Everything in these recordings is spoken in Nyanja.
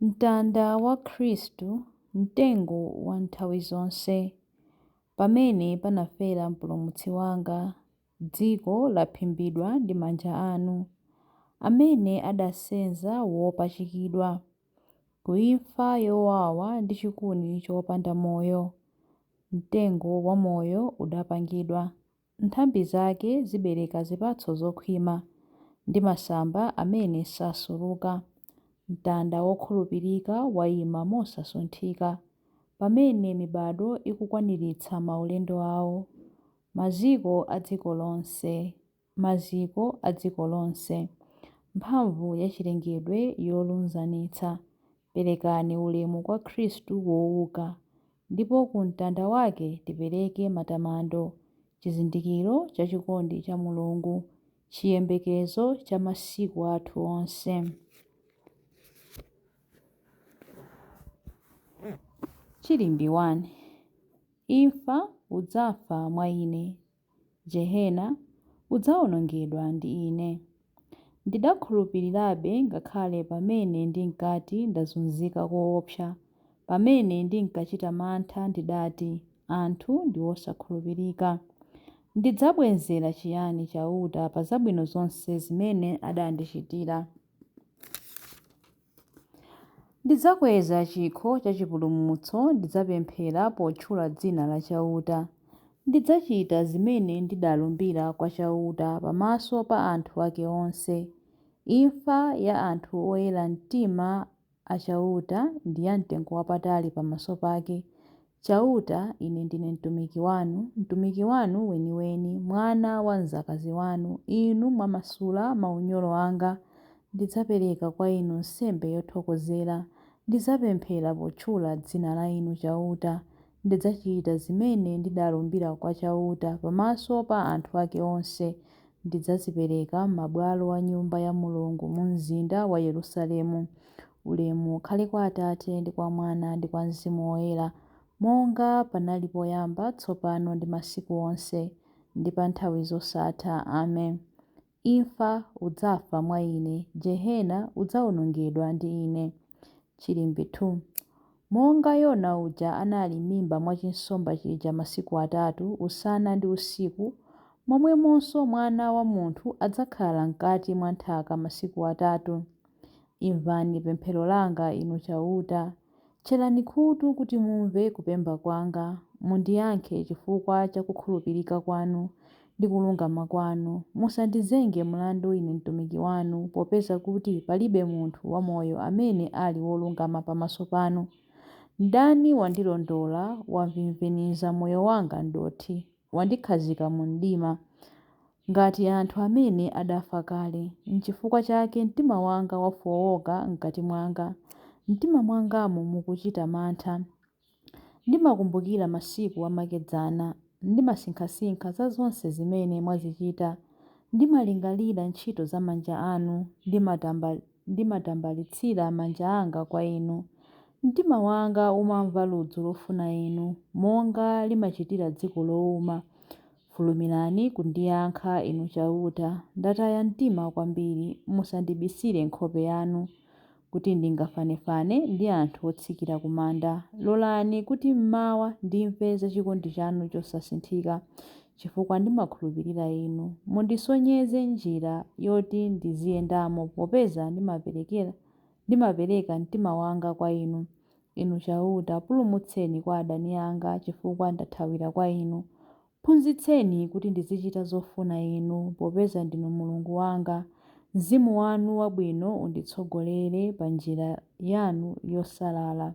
Mtanda wa Khristu, mtengo wa nthawi zonse, pamene panafera Mpulumutsi wanga, dziko laphimbidwa ndi manja anu, amene adasenza wopachikidwa, ku imfa yowawa ndi chikuni chopanda moyo, mtengo wa moyo udapangidwa. Nthambi zake zibereka zipatso zokhwima, ndi masamba amene sasuluka. Mtanda wokhulupirika waima mosasunthika, pamene mibadwo ikukwaniritsa maulendo awo. Maziko a dziko lonse, maziko a dziko lonse, mphamvu ya chilengedwe yolunzanitsa, Perekani ulemu kwa Khristu wouka, ndipo ku mtanda wake tipereke matamando, chizindikiro cha chikondi cha Mulungu, chiyembekezo cha masiku athu onse. Chilimbi 1. Imfa, udzafa mwa Ine. jehena, udzawonongedwa ndi ine. Ndidakhulupirirabe ngakhale pamene ndinkati ndazunzika koopsa, pamene ndinkachita mantha ndidati, Anthu ndi osakhulupirika. Ndidzabwenzera chiyani Chauta pa zabwino zonse zimene adandichitira? Ndidzakweza chikho cha chipulumutso, ndidzapemphera potchula dzina la Chauta. Ndidzachita zimene ndidalumbira kwa Chauta pamaso pa anthu ake onse. Imfa ya anthu oyera mtima a Chauta ndi yamtengowapatali pamaso pake, Chauta, ine ndine mtumiki wanu, mtumiki wanu weniweni, mwana wa mdzakazi wanu, Inu mwamasula maunyolo anga. Ndidzapereka kwa Inu nsembe yothokozera, ndidzapemphera potchula dzina la Inu Chauta. Ndidzachita zimene ndidalumbira kwa Chauta pamaso pa anthu ake onse, ndidzazipereka m'mabwalo a Nyumba ya Mulungu mumzinda wa Yerusalemu. Ulemu ukhale kwa Atate, ndi kwa Mwana, ndi kwa Mzimu Woyera, monga panali poyamba, tsopano, ndi masiku onse, ndi pa nthawi zosatha. Amen. Imfa, udzafa mwa Ine. Jehena, udzawonongedwa ndi Ine. Chilimbi 2. Monga Yona uja anali m'mimba mwa chinsomba chija masiku atatu, usana ndi usiku, momwemonso Mwana wa munthu adzakhala mkati mwa nthaka masiku atatu. Imvani pemphero langa, Inu Chauta. Tcherani khutu kuti mumve kupemba kwanga. Mundiyankhe chifukwa cha kukhulupirika kwanu ndi kulungama kwanu. Musandizenge mlandu ine mtumiki wanu, popeza kuti palibe munthu wamoyo amene ali wolungama pamaso panu. Mdani wandilondola, wamvimviniza moyo wanga m'dothi. wandikhazika mu mdima, ngati anthu amene adafa kale. Nchifukwa chake mtima wanga wafooka m'kati mwanga, m'mtima mwangamo mukuchita mantha. Ndimakumbukira masiku amakedzana, ndimasinkhasinkha za zonse zimene mwazichita. Ndimalingalira ntchito za manja anu, ndimatamba. ndimatambalitsira manja anga kwa Inu. Mtima wanga umamva ludzu lofuna Inu, monga limachitira dziko louma. Fulumirani kundiyankha, Inu Chauta. Ndataya mtima kwambiri, musandibisire nkhope yanu. Kuti ndingafanefane ndi anthu otsikira kumanda. Lolani kuti m'mawa ndimve za chikondi chanu chosasinthika, chifukwa ndimakhulupirira Inu. Mundisonyeze njira yoti ndiziyendamo popeza ndimaperekera ndimapereka mtima wanga kwa Inu. Inu Chauta, pulumutseni kwa adani anga chifukwa ndathawira kwa Inu. Phunzitseni kuti ndizichita zofuna Inu, popeza ndinu Mulungu wanga. Mzimu wanu wabwino unditsogolere pa njira yanu yosalala.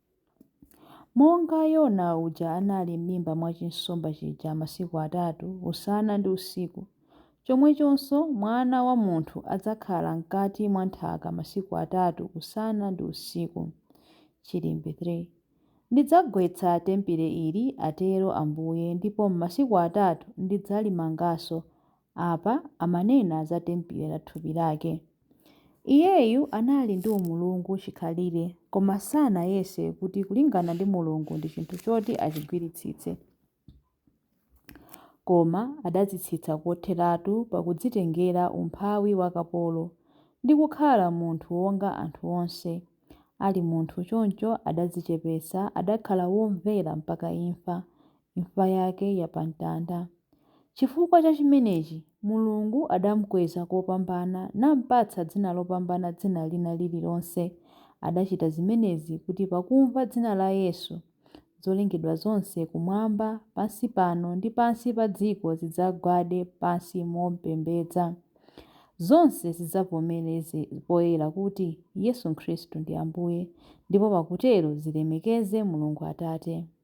Monga Yona uja anali m'mimba mwa chinsomba chija masiku atatu, usana ndi usiku, chomwechonso Mwana wa munthu adzakhala mkati mwa nthaka masiku atatu usana ndi usiku. Chilimbi 3. Ndidzagwetsa tempile ili, atero Ambuye, ndipo m'masiku atatu ndidzalimanganso, Apa amanena za tempile la thupi lake. Iyeyu anali ndi umulungu chikhalire koma sanayese kuti kulingana ndi Mulungu ndi chinthu choti achigwiritsitse. Koma adadzitsitsa kotheratu pakudzitengera umphawi wa kapolo, ndi kukhala munthu wonga anthu onse. Ali munthu choncho adadzichepetsa, adakhala womvera mpaka imfa, imfa yake ya pamtanda. Chifukwa cha chimenechi, Mulungu adamukweza kopambana nampatsa dzina lopambana dzina lina lililonse. Adachita zimenezi kuti pakumva dzina la Yesu, zolengedwa zonse kumwamba, pansi pano ndi pansi pa dziko zidzagwade pansi mompembedza. Zonse zidzavomereze poyera kuti Yesu Khristu ndi Ambuye, ndipo pakutero zilemekeze Mulungu Atate.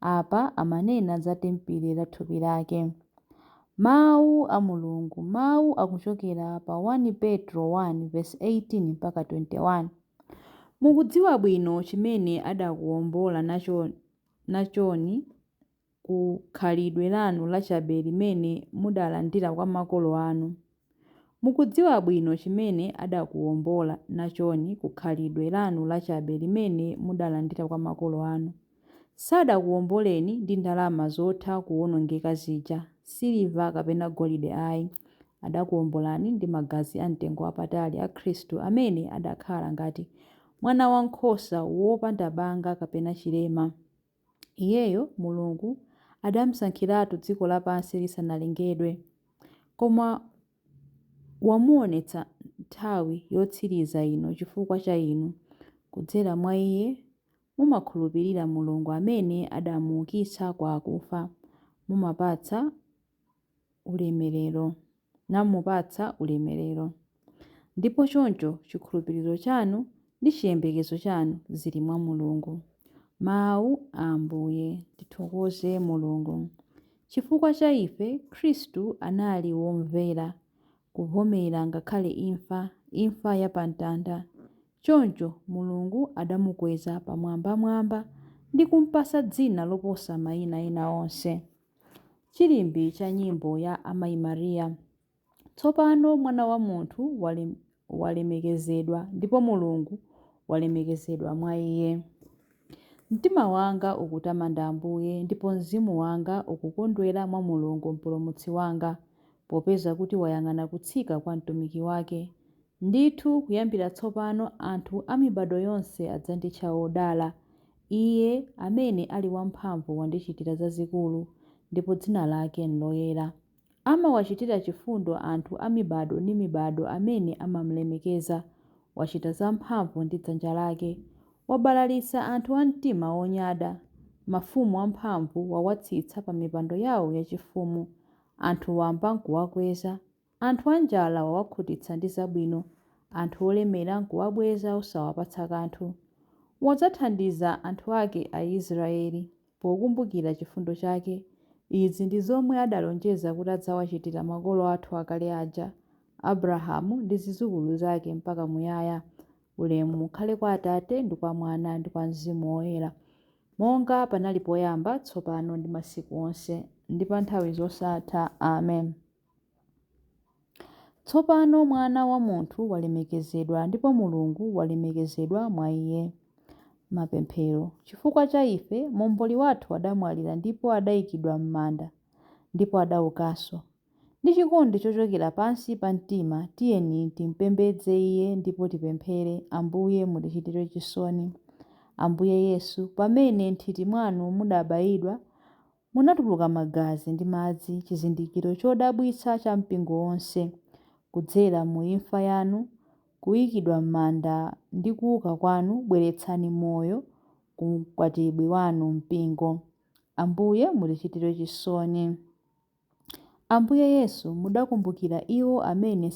Apa amanena za tempile la thupi lake. Mawu a Mulungu, mawu akuchokera pa 1 Petro 1 vesi 18 mpaka 21. Mukudziwa bwino chimene adakuwombola nachoni ku khalidwe lanu lachabe limene mudalandira kwa makolo anu. Mukudziwa bwino chimene adakuwombola nachoni ku khalidwe lanu lachabe limene mudalandira kwa makolo anu. Sadakuwomboleni ndi ndalama zotha kuwonongeka zija, siliva kapena golide ayi. Adakuwombolani ndi magazi amtengo wapatali a Khristu amene adakhala ngati mwanawankhosa wopanda banga kapena chilema. Iyeyo, Mulungu, adamsankhiratu dziko lapansi lisanalengedwe, koma wamuwonetsa nthawi yotsiriza ino chifukwa cha inu. Kudzera mwa Iye mumakhulupirira Mulungu amene adamuukitsa kwa akufa. Mumapatsa ulemerero, namupatsa ulemerero. Ndipo choncho chikhulupiriro chanu ndi chiyembekezo chanu zili mwa Mulungu. Mawu a Ambuye. Tithokoze Mulungu. Chifukwa cha ife, Khristu anali womvera kuvomera ngakhale imfa, imfa ya pa mtanda. Choncho Mulungu adamukweza pamwambamwamba ndi kumpatsa dzina loposa maina ena onse. Chilimbi cha nyimbo ya Amayi Maria. Tsopano Mwana wa munthu wale- walemekezedwa ndipo Mulungu walemekezedwa mwa iye. Mtima wanga ukutamanda Ambuye ndipo mzimu wanga ukukondwera mwa Mulungu Mpulumutsi wanga, popeza kuti wayang'ana kutsika kwa mtumiki wake. Ndithu kuyambira tsopano anthu a mibado yonse adzanditcha wodala. Iye amene ali wamphamvu wandichitira zazikulu, ndipo dzina lake n'loyera. Amawachitira chifundo anthu a mibado ndi mibado amene amam'lemekeza. Wachita zamphamvu ndi dzanja lake. Wabalalitsa anthu a mtima wonyada. Mafumu amphamvu wawatsitsa pamipando yawo yachifumu. Anthu wamba n'kuwakweza. Anthu anjala wawakhutitsa ndi zabwino, anthu olemera n'kuwabweza osawapatsa kanthu. Wadzathandiza anthu ake Aisiraeli pokumbukira chifundo chake. Izi ndi zomwe adalonjeza kuti adzawachitira makolo athu akale aja, Abrahamu ndi zidzukulu zake mpaka muyaya. Ulemu ukhale kwa Atate ndi kwa Mwana ndi kwa Mzimu Woyera, monga panali poyamba, tsopano ndi masiku onse, ndi pa nthawi zosatha. Amen. Tsopano Mwana wa munthu walemekezedwa ndipo Mulungu walemekezedwa mwa iye. Mapemphero. Chifukwa cha ife, Momboli wathu adamwalira ndipo adaikidwa m'manda, ndipo adaukanso. Ndi chikondi chochokera pansi pa mtima, tiyeni timpembedze Iye ndipo tipemphere, Ambuye, mutichitire chisoni. Ambuye Yesu, pamene m'nthiti mwanu mudabayidwa, Munatuluka magazi ndi madzi chizindikiro chodabwitsa cha mpingo wonse, kudzera mu imfa yanu, kuikidwa m'manda ndi kuuka kwanu bweretsani moyo ku mkwatibwi wanu mpingo. Ambuye mutichitire chisoni. Ambuye Yesu mudakumbukira iwo amene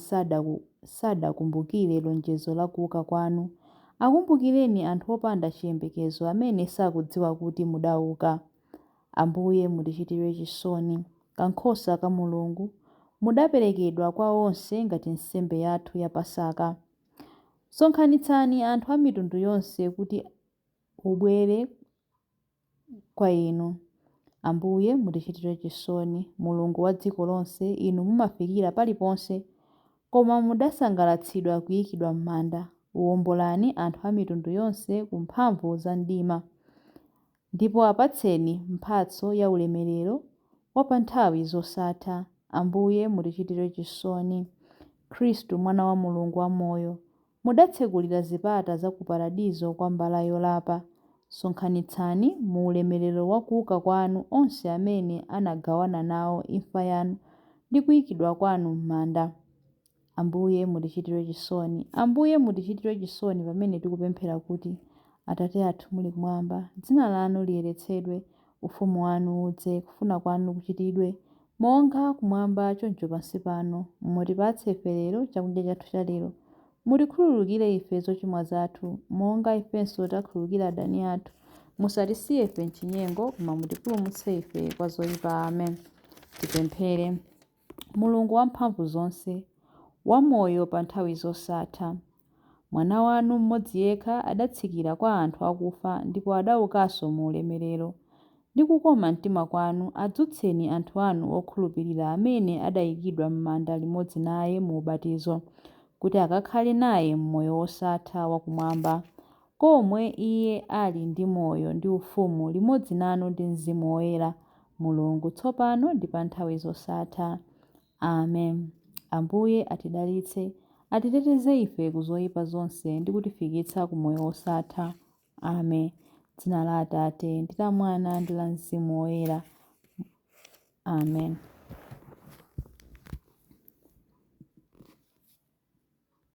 sadakumbukire lonjezo la kuuka kwanu. Akumbukireni anthu opanda chiyembekezo amene sakudziwa kuti mudauka. Ambuye, mutichitire chisoni. Kankhosa ka Mulungu, mudaperekedwa kwa onse ngati nsembe yathu ya Pasaka. Sonkhanitsani anthu a mitundu yonse kuti ubwere kwa inu. Ambuye, mutichitire chisoni. Mulungu wa dziko lonse, inu mumafikira paliponse, koma mudasangalatsidwa kuikidwa m'manda. Wombolani anthu a mitundu yonse ku mphamvu za mdima. Ndipo apatseni mphatso ya ulemerero wa pa nthawi zosatha, Ambuye, mutichitire chisoni. Khristu, Mwana wa Mulungu wamoyo, mudatsekulira zipata za ku Paradizo kwa mbala yolapa, sonkhanitsani mu ulemerero wa kuuka kwanu onse amene anagawana nawo imfa yanu ndi kuikidwa kwanu m'manda. Ambuye, mutichitire chisoni. Ambuye, mutichitire chisoni pamene tikupemphera kuti, Atate athu muli kumwamba, dzina lanu liyeretsedwe, ufumu wanu udze, kufuna kwanu kuchitidwe, monga kumwamba choncho pansi pano, mutipatse ife lero chakudya chathu chalero. Mutikhululukire ife zochimwa zathu, monga ifenso takhululukira adani athu. Musatisiye ife m'chinyengo, koma mutipulumutse ife kwa zoipa. Amen. Tipemphere. Mulungu Wamphamvuzonse, wamoyo pa nthawi zosatha. Mwana wanu mmodzi yekha adatsikira kwa anthu akufa ndipo adaukanso mu ulemerero. Ndi kukoma mtima kwanu adzutseni anthu anu okhulupirira amene adaikidwa m'manda limodzi naye mu ubatizo, kuti akakhale naye m'moyo wosatha wakumwamba. komwe Iye ali ndi moyo ndi ufumu limodzi nanu ndi Mzimu Woyera, Mulungu, tsopano ndi pa nthawi zosatha. Amen. Ambuye atidalitse, atiteteze ife ku zoyipa zonse ndi kutifikitsa ku moyo wosatha. Amen. Dzina la Atate, ndi la Mwana, ndi la Mzimu Woyera. Amen.